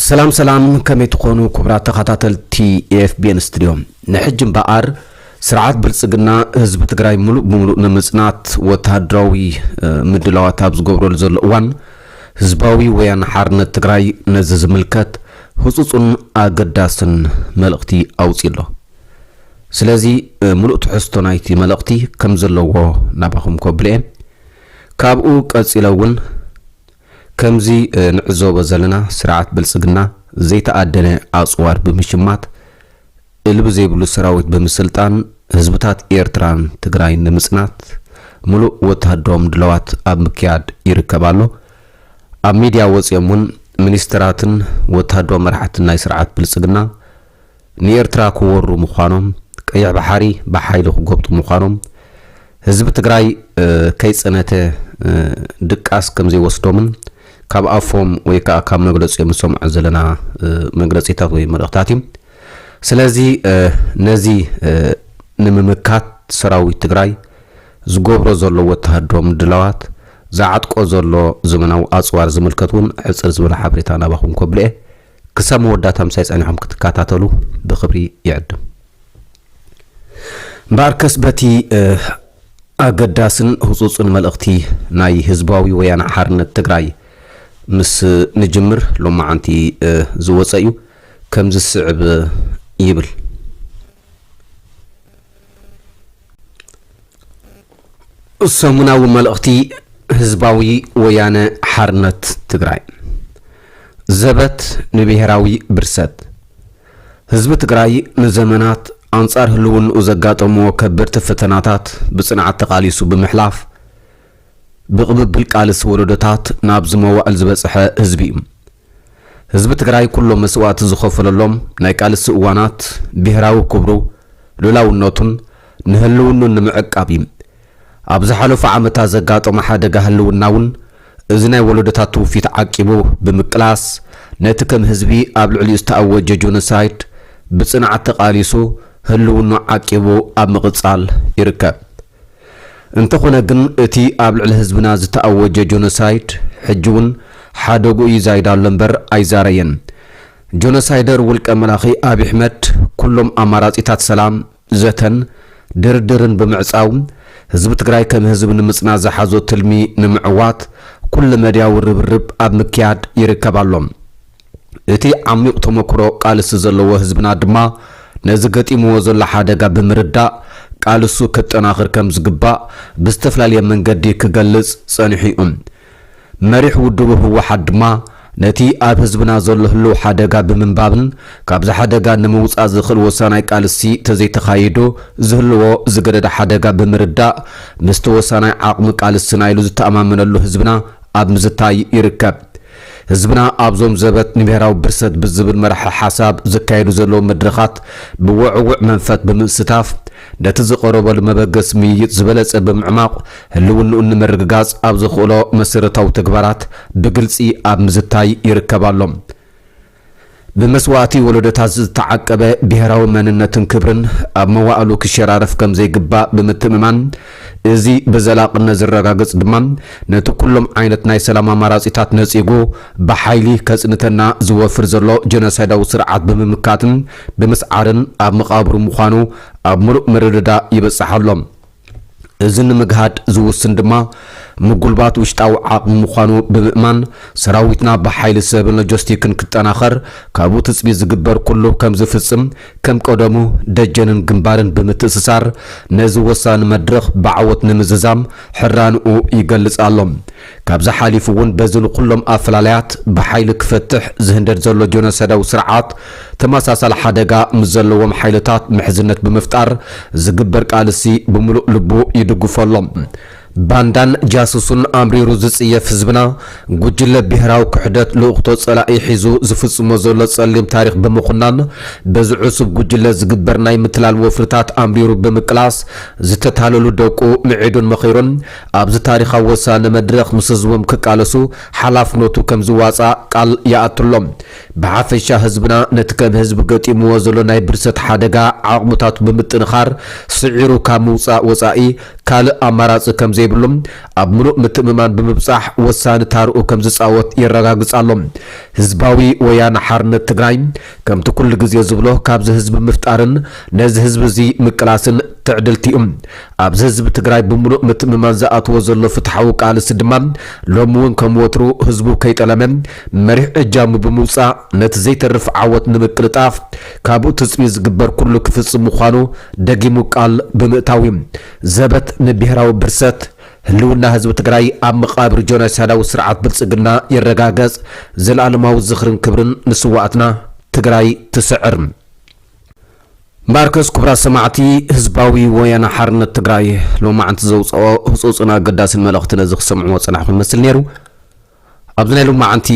ሰላም ሰላም ከመይ ትኾኑ ክቡራት ተኸታተልቲ ኤፍቢኤን ስትድዮ ንሕጂ እምበኣር ስርዓት ብልጽግና ህዝቢ ትግራይ ምሉእ ብምሉእ ንምጽናት ወተሃደራዊ ምድላዋት ኣብ ዝገብረሉ ዘሎ እዋን ህዝባዊ ወያነ ሓርነት ትግራይ ነዚ ዝምልከት ህጹጹን ኣገዳስን መልእኽቲ ኣውጺኡ ኣሎ ስለዚ ምሉእ ትሕዝቶ ናይቲ መልእኽቲ ከም ዘለዎ ናባኹም ከብልየ ካብኡ ቀጺለ እውን ከምዚ ንዕዘቦ ዘለና ስርዓት ብልፅግና ዘይተኣደነ ኣፅዋር ብምሽማት፣ እልቢ ዘይብሉ ሰራዊት ብምስልጣን፣ ህዝብታት ኤርትራን ትግራይን ንምፅናት ሙሉእ ወተሃደራዊ ምድላዋት ኣብ ምክያድ ይርከብ ኣሎ። ኣብ ሚድያ ወፂኦም እውን ሚኒስትራትን ወተሃደራዊ መራሕትን ናይ ስርዓት ብልፅግና፣ ንኤርትራ ክወሩ ምዃኖም፣ ቀይሕ ባሓሪ ብሓይሊ ክጎብጡ ምዃኖም፣ ህዝቢ ትግራይ ከይጸነተ ድቃስ ከምዘይወስዶምን ካብ ኣፎም ወይ ከኣ ካብ መግለጺኦም ንሰምዖ ዘለና መግለጺታት ወይ መልእኽታት እዩ። ስለዚ ነዚ ንምምካት ሰራዊት ትግራይ ዝገብሮ ዘሎ ወተሃደራዊ ምድላዋት፣ ዝዓጥቆ ዘሎ ዘመናዊ ኣጽዋር ዝምልከት እውን ሕጽር ዝበለ ሓበሬታ ናባኹም ከብል'የ። ክሳብ መወዳእታ ምሳይ ጸኒሖም ክትከታተሉ ብክብሪ ይዕድም። እምበኣርከስ በቲ ኣገዳስን ህጹጽን መልእኽቲ ናይ ህዝባዊ ወያነ ሓርነት ትግራይ ምስ ንጅምር ሎማዓንቲ ዝወጸ እዩ ከምዚ ዝስዕብ ይብል። ሰሙናዊ መልእኽቲ ህዝባዊ ወያነ ሓርነት ትግራይ! ዘበት ንብሄራዊ ብርሰት! ህዝቢ ትግራይ ንዘመናት ኣንፃር ህልውንኡ ዘጋጠምዎ ከበድቲ ፈተናታት ብፅንዓት ተቓሊሱ ብምሕላፍ ብቕብብል ቃልሲ ወለዶታት ናብዚ መዋእል ዝበፅሐ ህዝቢ እዩ። ህዝቢ ትግራይ ኩሎ መስዋእቲ ዝኸፈለሎም ናይ ቃልሲ እዋናት ብሄራዊ ክብሩ፣ ሉእላውነቱን ንህልውንኡን ንምዕቃብ እዩ። ኣብ ዝሓለፉ ዓመታት ዘጋጠሞ ሓደጋ ህልውና እውን እዚ ናይ ወለዶታት ትውፊት ዓቂቡ ብምቅላስ ነቲ ከም ህዝቢ ኣብ ልዕሊኡ ዝተኣወጀ ጆኖሳይድ ብፅንዓት ተቓሊሱ ህልውንኡ ዓቂቡ ኣብ ምቕፃል ይርከብ። እንተኾነ ግን እቲ ኣብ ልዕሊ ህዝብና ዝተኣወጀ ጆኖሳይድ ሕጂ'ውን ሓደግኡ ይዛይድ ኣሎ እምበር ኣይዛረየን። ጆኖሳይደር ውልቀ መላኺ ኣብይ ኣሕመድ ኩሎም ኣማራጺታት ሰላም፣ ዘተን ድርድርን ብምዕጻው ህዝቢ ትግራይ ከም ህዝቢ ንምጽናት ዝሓዞ ትልሚ ንምዕዋት ኩለመድያዊ ርብርብ ኣብ ምክያድ ይርከብ ኣሎ። እቲ ዓሚቕ ተመኩሮ ቃልሲ ዘለዎ ህዝብና ድማ ነዚ ገጢምዎ ዘሎ ሓደጋ ብምርዳእ ቃልሱ ከጠናኽር ከም ዝግባእ ብዝተፍላለየ መንገዲ ክገልጽ ጸኒሑ'ዩ። መሪሕ ውድቡ ህወሓት ድማ ነቲ ኣብ ህዝብና ዘሎ ህሉው ሓደጋ ብምንባብን ካብዚ ሓደጋ ንምውጻእ ዝኽእል ወሳናይ ቃልሲ ተዘይተኻይዱ ዝህልዎ ዝገደደ ሓደጋ ብምርዳእ ምስቲ ወሳናይ ዓቕሚ ቃልስና ኢሉ ዝተኣማመነሉ ህዝብና ኣብ ምዝታይ ይርከብ። ህዝብና ኣብዞም ዘበት ንብሄራዊ ብርሰት ብዝብል መርሐ ሓሳብ ዝካየዱ ዘለዉ መድረኻት ብወዕውዕ መንፈት ብምስታፍ ነቲ ዝቐረበሉ መበገሲ ምይይጥ ዝበለፀ ብምዕማቑ ህልውንኡ ንምርግጋፅ ኣብ ዘኽእሎ መሰረታዊ ተግባራት ብግልፂ ኣብ ምዝታይ ይርከብ ኣሎ። ብመስዋእቲ ወለዶታት ዝተዓቀበ ብሄራዊ መንነትን ክብርን ኣብ መዋእሉ ክሸራረፍ ከምዘይግባእ ብምትእምማን፣ እዚ ብዘላቕነት ዝረጋገጽ ድማ ነቲ ኩሎም ዓይነት ናይ ሰላም ኣማራጺታት ነጺጉ ብሓይሊ ከጽንተና ዝወፍር ዘሎ ጀኖሳይዳዊ ስርዓት ብምምካትን ብምስዓርን ኣብ መቓብሩ ምዃኑ ኣብ ምሉእ ምርድዳእ ይበጽሕ ኣሎ። እዚ ንምግሃድ ዝውስን ድማ ምጉልባት ውሽጣዊ ዓቕሚ ምዃኑ ብምእማን ሰራዊትና ብሓይሊ ሰብን ሎጀስቲክን ክጠናኸር ካብኡ ትፅቢት ዝግበር ኩሉ ከምዝፍፅም ከም ቀደሙ ደጀንን ግንባርን ብምትእስሳር ነዚ ወሳኒ መድረኽ ብዓወት ንምዝዛም ሕራንኡ ይገልፅ ኣሎ። ካብዚ ሓሊፉ እውን በዚ ንኩሎም ኣፈላላያት ብሓይሊ ክፈትሕ ዝህንደድ ዘሎ ጆኖሳይዳዊ ስርዓት ተመሳሳሊ ሓደጋ ምስ ዘለዎም ሓይልታት ምሕዝነት ብምፍጣር ዝግበር ቃልሲ ብምሉእ ልቡ ይድግፎ ኣሎ። ባንዳን ጃሱሱን ኣምሪሩ ዝፅየፍ ህዝብና ጉጅለ ብሄራዊ ክሕደት ልኡኽቶ ፀላኢ ሒዙ ዝፍፅሞ ዘሎ ፀሊም ታሪኽ ብምኹናን በዚ ዕሱብ ጉጅለ ዝግበር ናይ ምትላል ወፍርታት ኣምሪሩ ብምቅላስ ዝተታለሉ ደቁ ምዒዱን መኺሩን ኣብዚ ታሪኻዊ ወሳኒ መድረኽ ምስ ህዝቦም ክቃለሱ ሓላፍነቱ ከም ዝዋጻእ ቃል ይኣቱሎም። ብሓፈሻ ህዝብና ነቲ ከም ህዝቢ ገጢምዎ ዘሎ ናይ ብርሰት ሓደጋ ዓቕምታቱ ብምጥንኻር ስዒሩ ካብ ምውጻእ ወጻኢ ካልእ ኣማራጺ ከም ዘይብሉ ኣብ ምሉእ ምትእምማን ብምብጻሕ ወሳኒ ታርኡ ከም ዝጻወት የረጋግጽ ኣሎ። ህዝባዊ ወያነ ሓርነት ትግራይ ከምቲ ኩሉ ግዜ ዝብሎ ካብዚ ህዝቢ ምፍጣርን ነዚ ህዝቢ እዚ ምቅላስን ትዕድልቲ'ዩ። ኣብዚ ህዝቢ ትግራይ ብምሉእ ምትእምማን ዝኣትዎ ዘሎ ፍትሓዊ ቃልሲ ድማ ሎሚ እውን ከም ወትሩ ህዝቡ ከይጠለመ መሪሕ እጃሙ ብምውፃእ ነቲ ዘይተርፍ ዓወት ንምቅልጣፍ ካብኡ ትፅቢት ዝግበር ኩሉ ክፍፅም ምዃኑ ደጊሙ ቃል ብምእታው እዩ። ዘበት ንብሄራዊ ብርሰት! ህልውና ህዝቢ ትግራይ ኣብ መቓብር ጆናይሳዳዊ ስርዓት ብልፅግና ይረጋገፅ! ዘልኣለማዊ ዝኽርን ክብርን ንስዋኣትና! ትግራይ ትስዕር! ማርከስ ኩቡራት ሰማዕቲ ህዝባዊ ወያነ ሓርነት ትግራይ ሎማዕንቲ ዘውጸኦ ህጹጽን ኣገዳስን መልእኽቲ ነዚ ክትሰምዕዎ ዝጸናሕኩም ይመስል ኔሩ ኣብዚ ናይ ሎማዕንቲ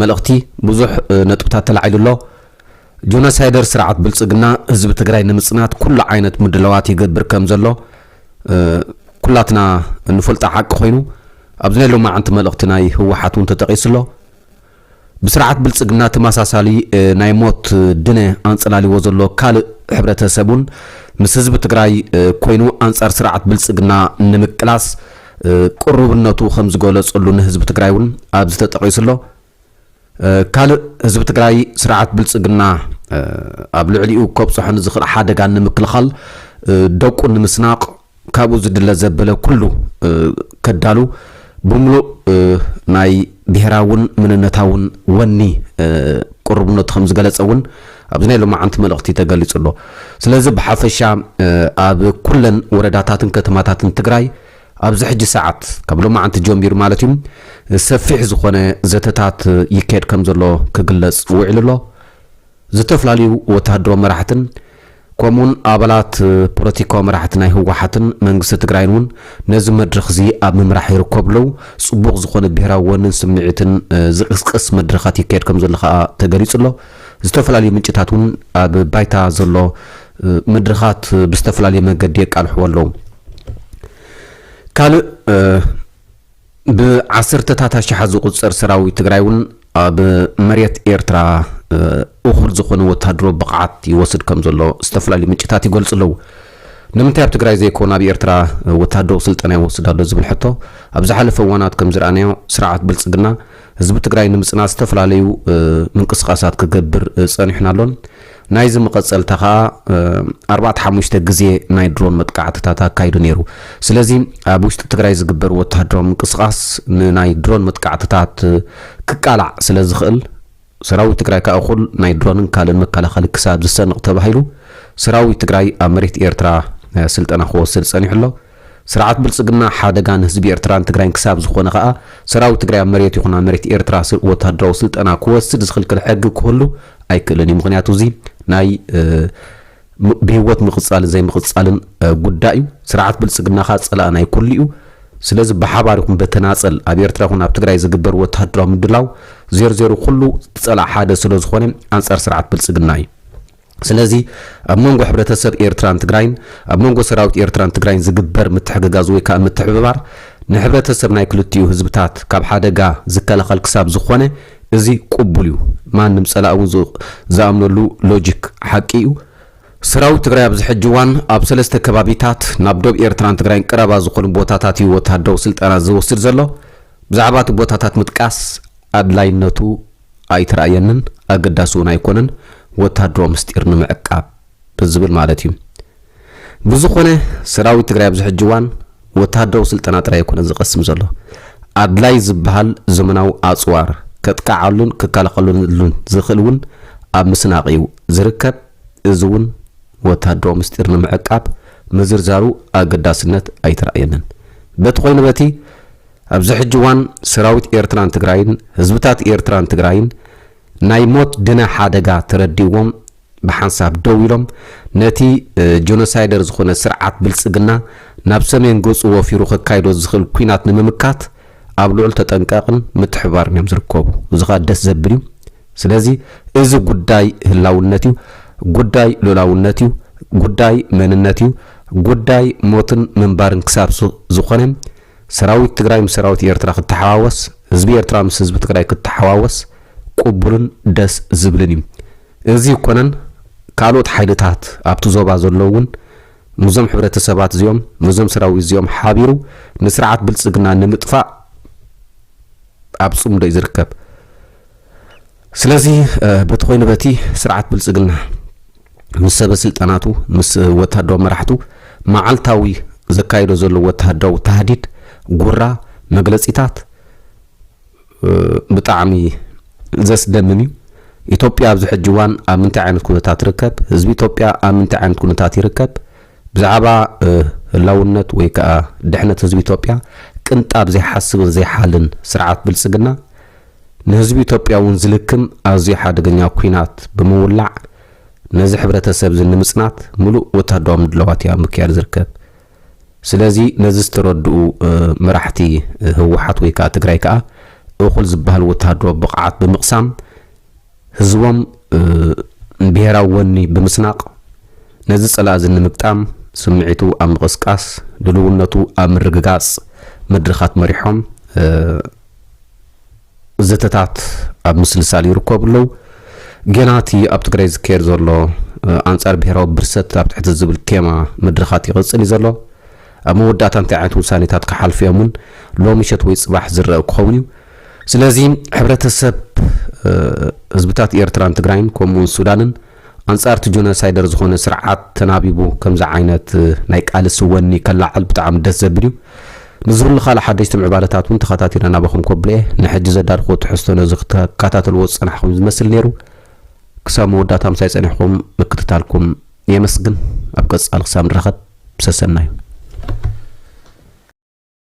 መልእኽቲ ብዙሕ ነጥብታት ተላዒሉ ኣሎ ጆኖሳይደር ስርዓት ብልጽግና ህዝቢ ትግራይ ንምጽናት ኩሉ ዓይነት ምድላዋት ይገብር ከም ዘሎ ኩላትና ንፈልጦ ሓቂ ኮይኑ ኣብዚ ናይ ሎማዕንቲ መልእኽቲ ናይ ህወሓት እውን ተጠቒሱ ኣሎ ብስርዓት ብልጽግና ተመሳሳሊ ናይ ሞት ድነ ኣንጸላልይዎ ዘሎ ካልእ ሕብረተ ሰብ እውን ምስ ህዝቢ ትግራይ ኮይኑ ኣንጻር ስርዓት ብልጽግና ንምቅላስ ቅሩብነቱ ከምዝገለጸሉ ንህዝቢ ትግራይ እውን ኣብዚ ተጠቒሱ ኣሎ። ካልእ ህዝቢ ትግራይ ስርዓት ብልጽግና ኣብ ልዕሊኡ ከብጽሖ ንዝኽእል ሓደጋ ንምክልኻል ደቁ ንምስናቕ፣ ካብኡ ዝድለ ዘበለ ኩሉ ከዳሉ ብምሉእ ናይ ብሄራውን ምንነታውን ወኒ ቅሩብነቱ ከም ዝገለጸ እውን ኣብዚ ናይ ሎማዓንቲ መልእኽቲ ተገሊጹ ኣሎ። ስለዚ ብሓፈሻ ኣብ ኩለን ወረዳታትን ከተማታትን ትግራይ ኣብዚ ሕጂ ሰዓት ካብ ሎማዓንቲ ጀሚሩ ማለት እዩ ሰፊሕ ዝኾነ ዘተታት ይካየድ ከም ዘሎ ክግለጽ ውዒሉ ኣሎ። ዝተፈላለዩ ወተሃደራዊ መራሕትን ከምኡውን ኣባላት ፖለቲካዊ መራሕቲ ናይ ህወሓትን መንግስቲ ትግራይን እውን ነዚ መድረኽዚ ኣብ ምምራሕ ይርከቡ ኣለዉ። ፅቡቕ ዝኾነ ብሄራዊ ወንን ስምዒትን ዝቕስቅስ መድረኻት ይካየድ ከምዘሎ ከኣ ተገሊፁ ኣሎ። ዝተፈላለዩ ምንጭታት እውን ኣብ ባይታ ዘሎ መድረኻት ብዝተፈላለየ መንገዲ የቃልሕዎ ኣለዉ። ካልእ ብዓሰርተታት ኣሽሓት ዝቑጸር ሰራዊት ትግራይ'ውን ኣብ መሬት ኤርትራ እኹል ዝኾነ ወተሃደራዊ ብቕዓት ይወስድ ከም ዘሎ ዝተፈላለዩ ምንጭታት ይገልጹ ኣለዉ። ንምንታይ ኣብ ትግራይ ዘይኮነ ኣብ ኤርትራ ወተሃደራዊ ስልጠና ይወስድ ኣሎ ዝብል ሕቶ ኣብ ዝሓለፈ እዋናት ከም ዝረኣናዮ ስርዓት ብልጽግና ህዝቢ ትግራይ ንምጽናት ዝተፈላለዩ ምንቅስቓሳት ክገብር ጸኒሑን ኣሎን። ናይዚ መቐጸልታ ከኣ ኣርባዕተ ሓሙሽተ ግዜ ናይ ድሮን መጥቃዕትታት ኣካይዱ ነይሩ። ስለዚ ኣብ ውሽጢ ትግራይ ዝግበር ወተሃደራዊ ምንቅስቓስ ንናይ ድሮን መጥቃዕትታት ክቃላዕ ስለዝኽእል፣ ሰራዊት ትግራይ ከኣ እኹል ናይ ድሮንን ካልእን መከላኸሊ ክሳብ ዝሰንቕ ተባሂሉ ሰራዊት ትግራይ ኣብ መሬት ኤርትራ ስልጠና ክወስድ ጸኒሑ ኣሎ። ስርዓት ብልጽግና ሓደጋ ንህዝቢ ኤርትራን ትግራይን ክሳብ ዝኾነ ከኣ ሰራዊት ትግራይ ኣብ መሬቱ ይኹን ኣብ መሬት ኤርትራ ወተሃደራዊ ስልጠና ክወስድ ዝኽልክል ሕጊ ክህሉ ኣይክእልን እዩ። ምኽንያቱ እዚ ናይ ብህይወት ምቕጻልን ዘይምቕጻልን ጉዳይ እዩ። ስርዓት ብልጽግና ከኣ ጸላኢ ናይ ኩሉ እዩ። ስለዚ ብሓባር ይኹን በተናጸል ኣብ ኤርትራ ይኹን ኣብ ትግራይ ዝግበር ወተሃደራዊ ምድላው ዜርዜሩ ኩሉ ጸላእ ሓደ ስለ ዝኾነ ኣንጻር ስርዓት ብልጽግና እዩ። ስለዚ ኣብ መንጎ ሕብረተሰብ ኤርትራን ትግራይን፣ ኣብ መንጎ ሰራዊት ኤርትራን ትግራይን ዝግበር ምትሕግጋዝ ወይ ከኣ ምትሕብባር፣ ንሕብረተሰብ ናይ ክልቲኡ ህዝብታት ካብ ሓደጋ ዝከላኸል ክሳብ ዝኾነ እዚ ቁቡል እዩ። ማንም ጸላኢ እውን ዝኣምነሉ ሎጂክ ሓቂ እዩ። ሰራዊት ትግራይ ኣብዚ ሕጂ እዋን ኣብ ሰለስተ ከባቢታት ናብ ዶብ ኤርትራን ትግራይን ቀረባ ዝኾኑ ቦታታት እዩ ወተሃደራዊ ስልጠና ዝወስድ ዘሎ። ብዛዕባ እቲ ቦታታት ምጥቃስ ኣድላይነቱ ኣይትርኣየንን ኣገዳሲ እውን ኣይኮነን ወታሃደራዊ ምስጢር ንምዕቃብ ብዝብል ማለት እዩ። ብዝኾነ ሰራዊት ትግራይ ኣብዚ ሕጂ እዋን ወታሃደራዊ ስልጠና ጥራይ ኣይኮነን ዝቐስም ዘሎ። ኣድላይ ዝበሃል ዘመናዊ ኣፅዋር ከጥቅዓሉን ክከላኸለሉን ዝኽእል እውን ኣብ ምስናቕ እዩ ዝርከብ። እዚ እውን ወታሃደራዊ ምስጢር ንምዕቃብ ምዝርዛሩ ኣገዳስነት ኣይትርኣየንን። በቲ ኮይኑ በቲ ኣብዚ ሕጂ እዋን ሰራዊት ኤርትራን ትግራይን ህዝብታት ኤርትራን ትግራይን ናይ ሞት ድነ ሓደጋ ተረዲእዎም ብሓንሳብ ደው ኢሎም ነቲ ጆኖሳይደር ዝኾነ ስርዓት ብልጽግና ናብ ሰሜን ገጹ ወፊሩ ከካይዶ ዝኽእል ኩናት ንምምካት ኣብ ልዑል ተጠንቀቕን ምትሕብባርን እዮም ዝርከቡ። እዚ ኸኣ ደስ ዘብል እዩ። ስለዚ እዚ ጉዳይ ህላውነት እዩ፣ ጉዳይ ሉላውነት እዩ፣ ጉዳይ መንነት እዩ፣ ጉዳይ ሞትን ምንባርን ክሳብ ዝኾነ ሰራዊት ትግራይ ምስ ሰራዊት ኤርትራ ክተሓዋወስ፣ ህዝቢ ኤርትራ ምስ ህዝቢ ትግራይ ክተሓዋወስ ቁቡልን ደስ ዝብልን እዩ። እዚ እኮነን ካልኦት ሓይልታት ኣብቲ ዞባ ዘሎ እውን ምስዞም ሕብረተሰባት እዚኦም ምስዞም ሰራዊት እዚኦም ሓቢሩ ንስርዓት ብልፅግና ንምጥፋእ ኣብ ፅምዶ እዩ ዝርከብ። ስለዚ በቲ ኮይኑ በቲ ስርዓት ብልጽግና ምስ ሰበ ስልጣናቱ ምስ ወተሃደራዊ መራሕቱ መዓልታዊ ዘካይዶ ዘሎ ወተሃደራዊ ታህዲድ ጉራ መግለጺታት ብጣዕሚ ዘስደምም እዩ። ኢትዮጵያ ኣብዚ ሕጂ እዋን ኣብ ምንታይ ዓይነት ኩነታት ትርከብ? ህዝቢ ኢትዮጵያ ኣብ ምንታይ ዓይነት ኩነታት ይርከብ? ብዛዕባ ህላውነት ወይ ከዓ ድሕነት ህዝቢ ኢትዮጵያ ቅንጣብ ዘይሓስብን ዘይሓልን ስርዓት ብልጽግና ንህዝቢ ኢትዮጵያ እውን ዝልክም ኣዝዩ ሓደገኛ ኲናት ብምውላዕ ነዚ ሕብረተሰብ እዚ ንምፅናት ምሉእ ወታደራዊ ምድላዋት እዩ ኣብ ምክያድ ዝርከብ። ስለዚ ነዚ ዝተረድኡ መራሕቲ ህወሓት ወይ ከዓ ትግራይ ከዓ እኹል ዝበሃል ወታደራዊ ብቕዓት ብምቕሳም ህዝቦም ብሄራዊ ወኒ ብምስናቕ ነዚ ፀላኢ እዚ ንምግጣም ስምዒቱ ኣብ ምቕስቃስ ድልውነቱ ኣብ ምርግጋፅ መድረኻት መሪሖም ዘተታት ኣብ ምስልሳል ይርከቡ ኣለው። ጌና እቲ ኣብ ትግራይ ዝካየድ ዘሎ ኣንጻር ብሄራዊ ብርሰት ኣብ ትሕቲ ዝብል ቴማ መድረኻት ይቕጽል እዩ ዘሎ። ኣብ መወዳእታ እንታይ ዓይነት ውሳኔታት ክሓልፉ እዮም እውን ሎሚ ምሸት ወይ ጽባሕ ዝረእ ክኸውን እዩ። ስለዚ ሕብረተሰብ ህዝብታት ኤርትራን ትግራይን ከምኡውን ሱዳንን ኣንጻር እቲ ጆነሳይደር ዝኾነ ስርዓት ተናቢቡ ከምዚ ዓይነት ናይ ቃልሲ ወኒ ከላዕል ብጣዕሚ ደስ ዘብል እዩ። ንዝህሉ ካልእ ሓደሽቲ ምዕባለታት እውን ተኸታቲለ ናባኹም ከብሎ እየ። ንሕጂ ዘዳልኽዎ ትሕዝቶ ነዚ ክትከታተልዎ ዝጸናሕኹም እዩ ዝመስል ነይሩ። ክሳብ መወዳእታ ምሳይ ጸኒሕኩም ምክትታልኩም የመስግን። ኣብ ቀጻሊ ክሳብ ንራኸብ ሰሰናዩ።